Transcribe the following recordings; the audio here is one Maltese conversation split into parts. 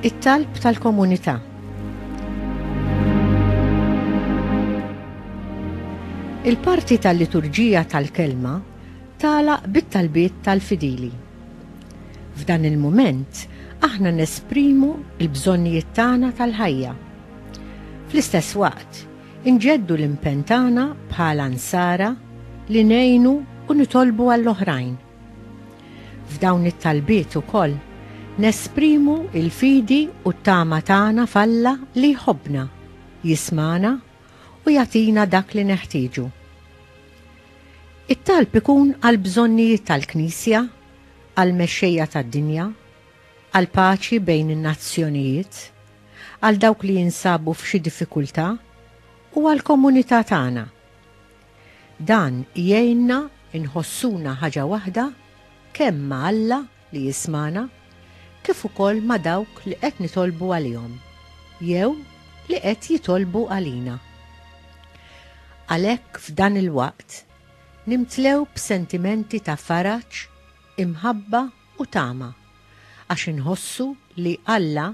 It-talb tal-komunità. Il-parti tal-liturġija tal-kelma tala bit-talbiet tal-fidili. F'dan il-mument, aħna nesprimu il-bżonnijiet tagħna tal-ħajja. Fl-istess waqt, Inġeddu l-impenn tagħna bħala Nsara li ngħinu u nitolbu għall-oħrajn. F'dawn it-talbiet ukoll nesprimu l-fidi u t-tama tagħna f'Alla li jħobbna, jismagħna u jagħtina dak li neħtieġu. It-talb ikun għall-bżonnijiet tal-Knisja, għall-mexxejja tad-dinja, għall-paċi bejn in-nazzjonijiet, għal dawk li jinsabu f'xi diffikultà u għall-komunità tagħna. Dan jgħinna nħossuna ħaġa waħda kemm ma' Alla li jismagħna kif ukoll ma' dawk li qed nitolbu għalihom jew li qed jitolbu għalina. Għalhekk f'dan il-waqt nimtlew b'sentimenti ta' faraġ, imħabba u tama għax inħossu li Alla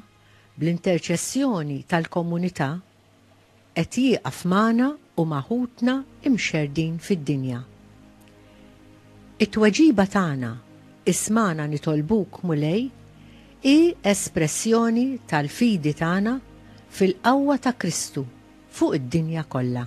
Bl-interċessjoni tal-Komunità, qed jieqaf magħna u ma' ħutna imxerrdin fid-dinja. It-tweġiba tagħna, Ismagħna nitolbuk, Mulej, hi espressjoni tal-fidi tagħna fil-qawwa ta' Kristu fuq id-dinja kollha.